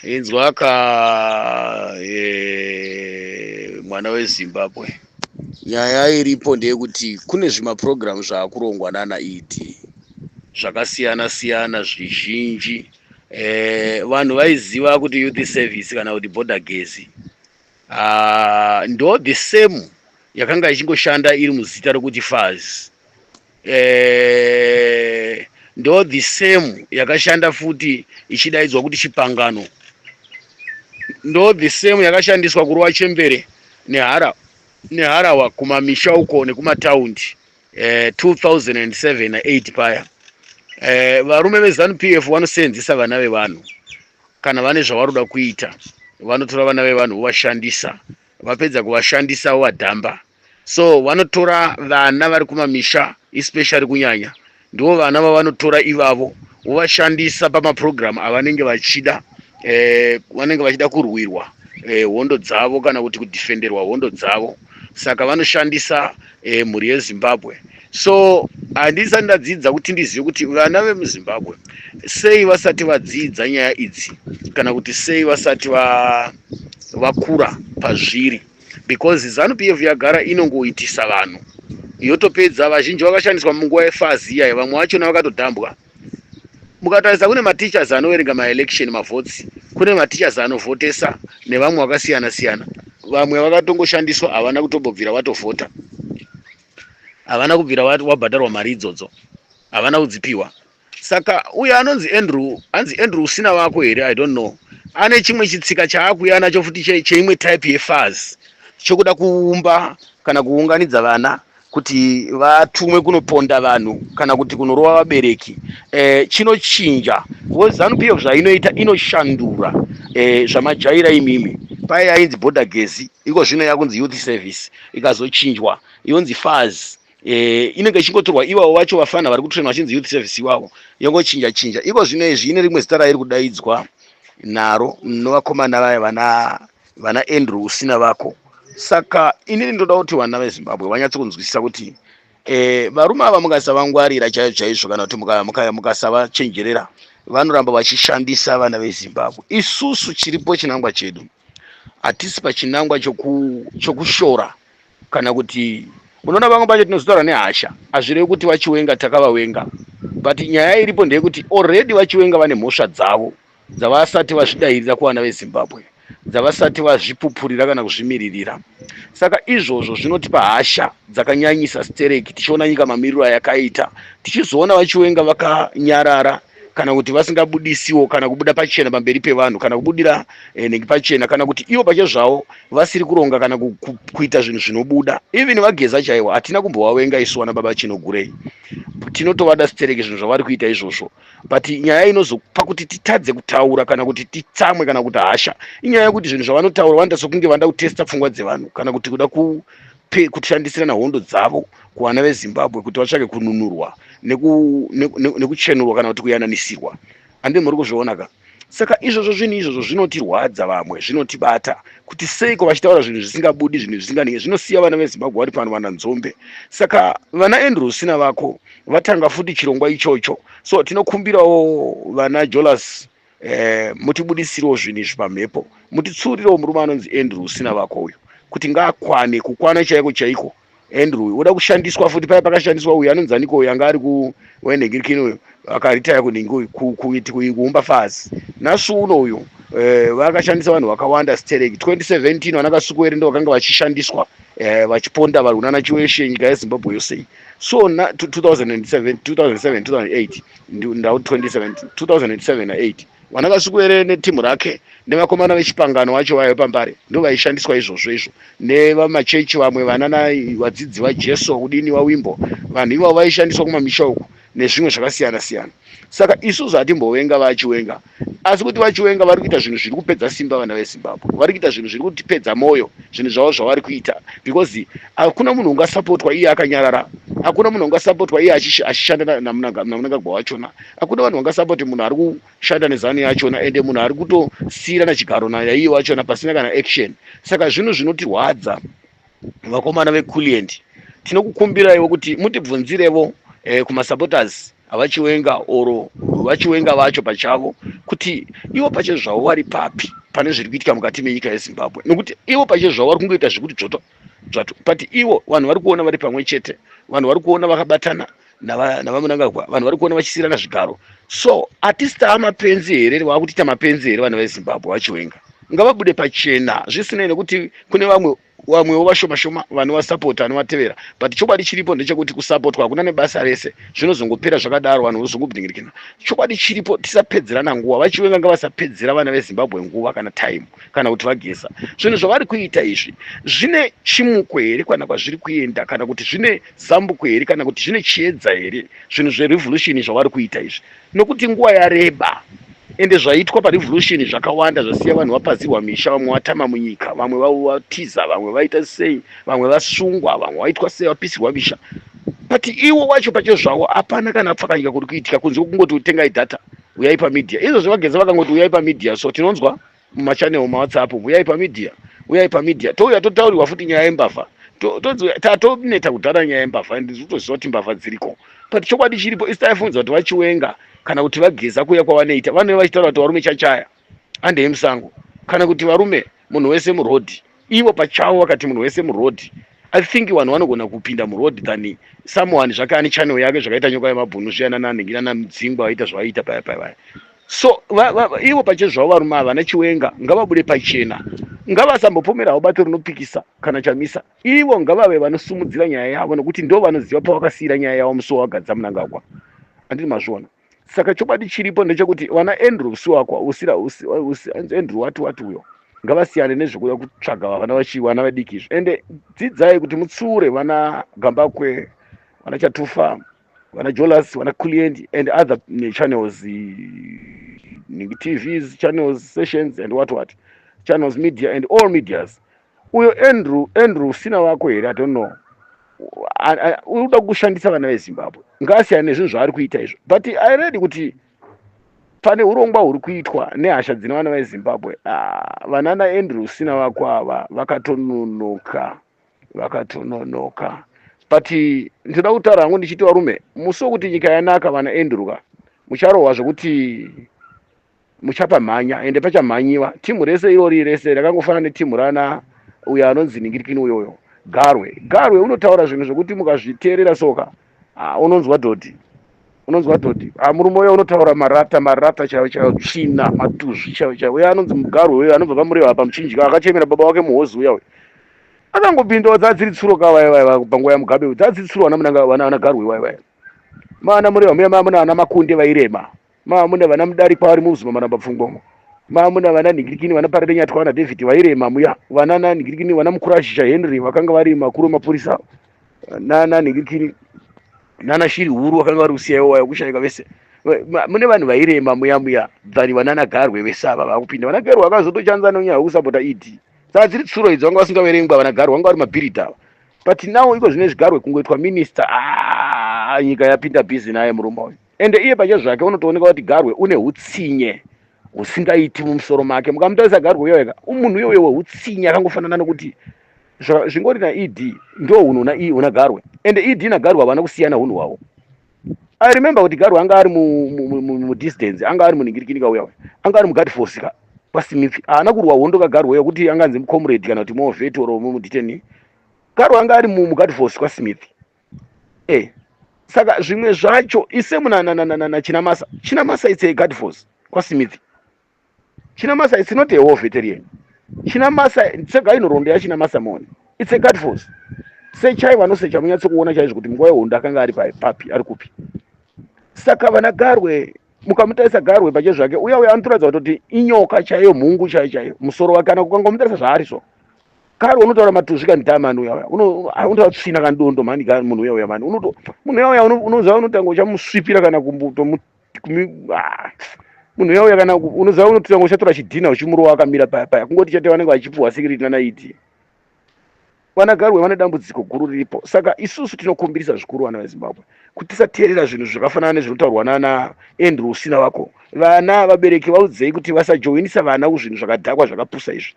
inzwa ka eh, mwana wezimbabwe nyaya iripo ndeyekuti kune zvimaprogramu zvaakurongwa nana ed zvakasiyana siyana zvizhinji eh, vanhu vaiziva kuti youth service kana kuti border gezi ah, ndo the same yakanga ichingoshanda iri muzita rekuti faz eh, ndo the same yakashanda futi ichidaidzwa kuti chipangano ndo the same yakashandiswa kurova chembere nehara neharawa kumamisha uko nekumataundi eh, 2007 na 8 paya eh, varume vezanu p f vanoseenzesa vana vevanhu kana vane zvavaroda kuita vanotora vana vevanhu vovashandisa vapedza kuvashandisa vovadhamba wa so vanotora vana vari kumamisha especially kunyanya ndivo vana vavanotora ivavo vovashandisa pamaprogramu avanenge vachida eh, vanenge vachida kurwirwa eh, hondo dzavo kana kuti kudhifenderwa hondo dzavo saka vanoshandisa eh, mhuri yezimbabwe so handisati ndadzidza kuti ndizive kuti vana vemuzimbabwe sei vasati vadzidza nyaya idzi kana kuti sei vasati vakura pazviri because zanu pf yagara inongoitisa vanhu yotopedza vazhinji vakashandiswa munguva yefazi iyayi vamwe vachona vakatodhambwa mukatarisa kune mateachers anoverenga maelection mavotes kune mateachers anovhotesa nevamwe vakasiyana siyana vamwe vakatongoshandiswa havana kutobobvira vatovhota havana kubvira wabhadharwa mari idzodzo havana kudzipiwa Saka uyo anonzi Andrew, anzi Andrew usina vako here I don't know. Ane chimwe chitsika chaakuya nacho futi che, cheimwe type yefaz chokuda kuumba kana kuunganidza vana kuti vatumwe kunoponda vanhu kana kuti kunorova vabereki e, chinochinja because zanu pf zvainoita inoshandura e, zvamajaira imimi paye yainzi border gezi iko zvino yakunzi youth service ikazochinjwa yonzi faz eh, inenge ichingotorwa iwawo vacho vafana vari kutrena vachinzi youth service iwawo yongochinja chinja iko zvino izvi ine rimwe zita rairi kudaidzwa naro novakomana vaya vana vana andrew usina vako saka inini ndoda kuti vana vezimbabwe vanyatso kunzwisisa kuti eh, varume ava mukasavangwarira chaizvo chaizvo kana kuti mukasavachenjerera vanoramba vachishandisa vana vezimbabwe isusu chiripo chinangwa chedu hatisi pachinangwa chokushora kana kuti unoona vamwe pacho tinozotaura nehasha hazvirevi kuti vachiwenga takavawenga but nyaya iripo ndeyekuti already vachiwenga vane mhosva dzavo dzavasati vazvidairira kuvana vezimbabwe dzavasati vazvipupurira kana kuzvimiririra saka izvozvo zvinotipa hasha dzakanyanyisa stereki tichiona nyika mamiriro ayakaita tichizoona vachiwenga vakanyarara kana kuti vasingabudisiwo kana kubuda pachena pamberi pevanhu kana kubudira eh, nenge pachena kana kuti ivo pache zvavo vasiri kuronga kana ku, ku, kuita zvinhu zvinobuda even vageza chaivo hatina kumbovavenga isu vana baba chinogurei tinotovada stereke zvinhu zvavari kuita izvozvo but nyaya inozopa kuti titadze kutaura kana kuti titsamwe kana kuti hasha inyaya yekuti zvinhu zvavanotaura vanoita sokunge vanoda kutesta pfungwa dzevanhu kana kuti kuda ku pekushandisirana hondo dzavo kuvana vezimbabwe kuti vatsvake kununurwa nekuchenurwa kana kuti kuyananisirwa ande muri kuzviona ka saka izvozvo zvinhu izvozvo zvinotirwadza vamwe zvinotibata kuti seiko vachitaura zvinhu zvisingabudi zvinhu zvisinganei zvinosiya vana vezimbabwe vari pano vana nzombe saka vana andrew usina vako vatanga futi chirongwa ichocho so tinokumbirawo vana jolas eh, mutibudisirewo zvinhu izvi pamhepo mutitsuurirewo murume anonzi andrew usina vako uyu kuti ngaakwane kukwana chaiko chaiko andrew uyu oda kushandiswa futi paya pakashandiswa uyu anonzi aniko uyu anga ari kuwenhengirikini uyu akaritaya kunhingi uyu kuumba fazi nasi uno uyu eh, vakashandisa vanhu vakawanda stereki 2017 vana kasukuwere ndo vakanga vachishandiswa eh, vachiponda varwi nana chiweshe nyika yezimbabwe yose so 2007 2007 2008 ndau 2007 vana vasikwere netimu rake nevakomana vechipangano wacho vaive pambare ndo vaishandiswa izvozvo izvo nevamachechi vamwe vana navadzidzi vajesu kudini vawimbo vanhu ivavo vaishandiswa kumamisha uku nezvimwe zvakasiyana siyana saka isusu hatimbovenga vachiwenga asi kuti vachiwenga vari kuita zvinhu zviri kupedza simba vana vezimbabwe vari kuita zvinhu zviri kutipedza mwoyo zvinhu zvavo zvavari kuita because hakuna munhu ungasapotwa iye akanyarara hakuna munhu ungasapotwa iye achishanda namunangagwa wachona hakuna vanhu vangasapoti munhu ari kushanda nezanu yachona ende munhu ari kutosiirana chigaro naiye wachona pasina kana action saka zvinhu zvinotirwadza vakomana vekulient tinokukumbiraiwo kuti mutibvunzirevo eh, kumasupporters avachiwenga or vachiwenga vacho pachavo kuti ivo pache zvavo vari papi pane zviri kuitika mukati menyika yezimbabwe nokuti ivo pache zvavo vari kungoita zvekuti dzvoto dzvato but ivo vanhu vari kuona vari pamwe chete vanhu vari kuona vakabatana navamunangagwa vanhu vari kuona vachisiirana zvigaro so atist amapenzi here vaakutiita mapenzi here vana vezimbabwe vachiwenga ngavabude pachena zvisinei nekuti kune vamwe vamwewo vashoma shoma vanovasapota anovatevera but chokwadi chiripo ndechekuti kusapotwa hakuna nebasa rese zvinozongopera zvakadaro vanhu vozongobdingirikina chokwadi chiripo tisapedzerana nguva vachiwenga ngavasapedzera vana vezimbabwe nguva kana time kana kuti vageza zvinhu zvavari kuita izvi zvine chimuko here kana kwazviri kuenda kana kuti zvine zambuko here kana kuti zvine chiedza here zvinhu zverevolution zvavari kuita izvi nokuti nguva yareba ende zvaitwa parevolution zvakawanda zvasiya vanhu vapazirwa misha vamwe vatama munyika vamwe vatiza vamwe vaita sei vamwe vasungwa vamwe vaitwa sei vapisirwa misha but iwo wacho pacho zvavo hapana kana pfakanyika kuri kuitika kunze kwekungoti utengai data uyai pamedia izvozvo vageza vakangoti uyai pamedia so tinonzwa mumachannel mawhatsapp umu uyai pamedia uyai pamedia touya totaurirwa futi nyaya yembavha tatoneta kudhara nyaya yembavha and zvitoziva kuti mbavha dziriko but chokwadi chiripo isi taifunza kuti vachiwenga kana kuti vageza kuya kwavanoita vanove vachitaura kuti varume chachaya andei musango kana kuti varume munhu wese murodhi Ivo pachavo vakati munhu wese muroad I think vanhu vanogona kupinda muroad than someone zvake ane channel yake zvakaita nyoka yemabhunu zviyana nanhingira namudzingwa vaita zvavaiita paya paya vaya so va, va, va, ivo pache zvavo varume ava vana chiwenga ngavabude pachena ngavasambopomera havo bato rinopikisa kana chamisa ivo ngavave vanosumudzira nyaya yavo nokuti ndo vanoziva pavakasiira nyaya yavo musi wavagadza munangagwa andini mazviona saka chokwadi chiripo ndechekuti vana andrew siwakwa usira andrew wati wati uyo ngavasiyane nezvekuda kutsvaga vana vachivana vadiki izvi ende dzidzai kuti mutsiure vana gambakwe vana chatufa vana jolas vana client and other channels tvs channels sessions and what what channels media and all medias Uyo Andrew, Andrew usina wako here? I don't know. Unoda kushandisa vana veZimbabwe. Ngaasiyane nezvinhu zvaari kuita izvo. But I read kuti pane urongwa huri kuitwa nehasha dzine vana vezimbabwe ah, vanana andrew sina vako ava vakatononoka vakatononoka but ndinoda kutaura hangu ndichiti varume musi wekuti nyika yanaka vana andrew ka mucharohwa zvekuti muchapamhanya ende pachamhanyiwa team rese irori rese rakangofana neteam rana uyo anonzi ningirikini uyoyo garwe garwe unotaura zvinhu zvekuti mukazviteerera soka ah, unonzwa dhodhi unonzwa dhodhi ah, murume uyo unotaura marata marata chaiwo chaiwo tsvina matuzvi chaiwo chaiwo uyo anonzi mugarwe uyo anobva pamureva apa muchinjika akachemera baba wake muhozi uya uyo akangopindawo dzadziri tsuro ka vaya vaya panguva yamugabe dzadziri tsuro vana garwe vaya vaya maana mureva muya mamuna ana makunde vairema maamuna vana mudarikwa vari muuzima maramba pfungwamo maamuna vana nhingirikini vana parerenyatwa vana david vairema muya vana nanhingirikini vana mukurashisha henry vakanga vari makuru emapurisa nana nhingirikini nana shiri huru vakanga vari kusiyaiwo waya kushayika vese mune vanhu vairema muya muya than vanana garwe vese ava vakupinda vana garwe vakazotochanza nonyaya wekusapota ed saka dziri tsuro idzo vanga vasingaverengwa vana garwe vanga vari mabhirita ava but now iko zvine zvigarwe kungoitwa minista ah, nyika yapinda busy naye murume uyu Ende iye pachezvake unotooneka kuti Garwe une hutsinye husingaiti mumusoro make. Mukamutarisa Garwe uyo ega, umunhu uyo uyo wehutsinye akangofanana nokuti zva- zvingori naED ndo hunhu huna i- huna Garwe. Ende ED naGarwe havana kusiyana hunhu hwavo. I remember kuti Garwe anga ari mu, mu, mu, mu, mu distance, anga ari muningirikini kauya uya. Anga ari muguard force ka kwaSimifi. Haana kurwa hondo kaGarwe uya kuti anganzi mucomrade kana kuti moveti or mumuditeni. Garwe anga ari mu, muguard force kwaSimifi. eh saka zvimwe zvacho ise munanananana chinamasa chinamasa it's a guard force kwasimithi chinamasa it's not a war veterian chinamasa sega inhoroondo yachinamasa mone it's a guard force sechai vanosecha munyatso kuona chaizvo kuti munguva yehondo akanga ari papi ari kupi saka vana garwe mukamutarisa garwe pache zvake uya uya anotoratidza kutoti inyoka chaiyo mhungu chaiyo chaiyo musoro wake kana kukangomutarisa zvaari so kari unotaura matuzvi kani taa mani uya uya unotaura tsvina kani dondo mani kani munhu uya uya mani unoto munhu uya uya unoziva unotanga uchamusvipira kana kumbutomu ah, munhu uya uya kana unoziva unotanga uchatora chidhina uchimurova akamira paya paya kungoti chate vanenge vachipuhwa sikiriti nanaiti vanagarwe vane dambudziko guru riripo saka isusu tinokumbirisa zvikuru vana vezimbabwe kuti tisateerera zvinhu zvakafanana nezvinotaurwa nana andrew usina vako vana vabereki vaudzei kuti vasajoinisa vana kuzvinhu zvakadhakwa zvakapusa izvi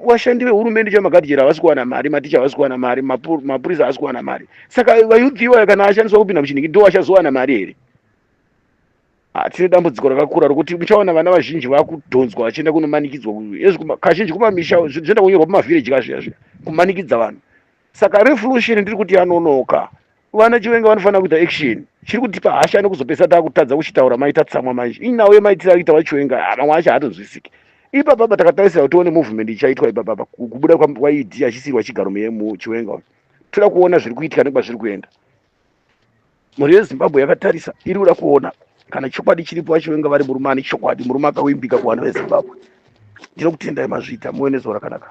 vashandi vehurumende chaivo makatichera havasi kuwana mari maticha havasi kuwana mari mapurisa havasi kuwana mari saka vayuth iwayo kana ashandiswa kupinda muchiniki ndo achazowana mari here ah, tine dambudziko rakakura rokuti muchaona vana vazhinji vakudhonzwa vachienda kunomanikidzwa kazhinji kumamisha zvinoenda kunyorwa pamavhireji kazviya zviya kumanikidza vanhu saka revolution ndiri kuti yanonoka Vana Chiwenga vanofanira kuita action. Chiri kutipa hasha nekuzopesa takutadza kuchitaura mai tatsamwa manje. Inawo yemaitira akuita vaChiwenga ah, mamwe acho hatonzwisiki. Ipa baba takatarisira kuti tione movement ichaitwa ipa baba kubuda kwaED achisirwa chigaro muyemu Chiwenga uyu. Toda kuona zviri kuitika nekuba zviri kuenda. Mhuri yeZimbabwe yakatarisa iri kuda kuona kana chokwadi chiripo vaChiwenga vari murume ane chokwadi murume akawimbika kuvanhu veZimbabwe. Ndinokutendai mazvita muwe nezuva rakanaka.